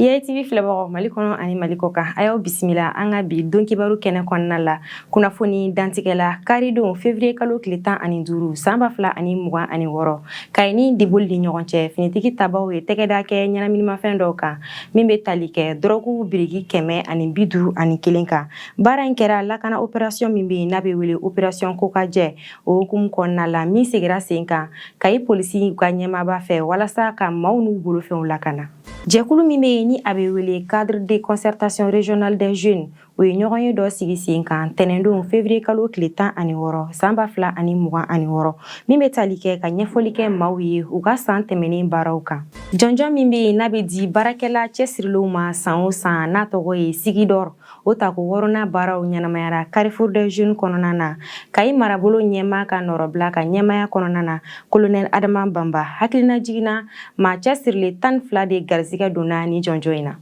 YATV filɛbagaw mali kɔnɔ ani mali kɔ kan a y'aw bisimila an ka bi don kibaru kɛnɛ kɔnɔna la kunnafoni dantigɛ la karidon fevriye kalo tile tan ani duuru san ba fila ani mugan ani wɔɔrɔ kayi ni diboli ni ɲɔgɔn cɛ finitigi tabaw ye tɛgɛda kɛ ɲɛnaminimafɛn dɔw kan min bɛ tali kɛ dɔrɔgu biriki kɛmɛ ani bi duuru ani kelen kan baara in kɛra lakana operasiyɔn min bɛ yen n'a bɛ wele operasiyɔn kokajɛ o hukumu kɔnɔna la min sigira sen kan kayi polisiw ka ɲɛmaaba fɛ walasa ka maaw n'u bolofɛnw lakana Jɛkulu min bɛ yen ni a bɛ wele cadre de concertation régionale des jeunes o ye ɲɔgɔnye dɔ sigi sen kan tɛnɛndon février kalo tile tan ani wɔɔrɔ san ba fila ani mugan ani wɔɔrɔ min bɛ tali kɛ ka ɲɛfɔli kɛ maaw ye u ka san tɛmɛnen baaraw kan jɔnjɔn min bɛ yen n'a bɛ di baarakɛla cɛsirilenw ma san o san n'a tɔgɔ ye Sigi d'or O tako wɔɔrɔnan baaraw ɲɛnamayara Carrefour des Jeunes kɔnɔna na. Kayi marabolo ɲɛmaa ka nɔrɔbila ka ɲɛmaya kɔnɔna na, Kolonɛli Adama Banba. Hakilinajigin na, maa cɛsirilen tan ni fila de garisigɛ donna ni jɔnjɔn in na.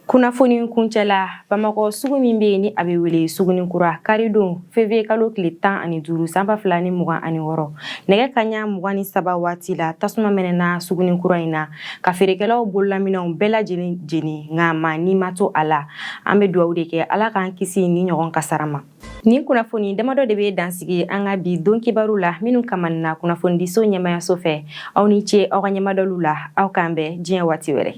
Kunnafoni kuncɛla, Bamakɔ sugu min bɛ yen ni a bɛ wele Suguninkura, karidon février kalo tile tan ani duuru san ba fila ni mugan ani wɔɔrɔ nɛgɛ kaɲa mugan ni saba waati la, tasuma mɛnɛna Suguninkura in na. ka feerekɛlaw bololaminɛnw bɛɛ lajɛlen jeni nka maa ni ma to a la an bɛ dugawu de kɛ ala k'an kisi nin ɲɔgɔn kasara ma nin kunnafoni damadɔ de bɛ dan sigi an ka bi don kibaru la minnu kamanina kunnafonidiso ɲɛmayaso fɛ aw ni ce aw ka ɲɛmadɔliw la aw k'an bɛn diɲɛ waati wɛrɛ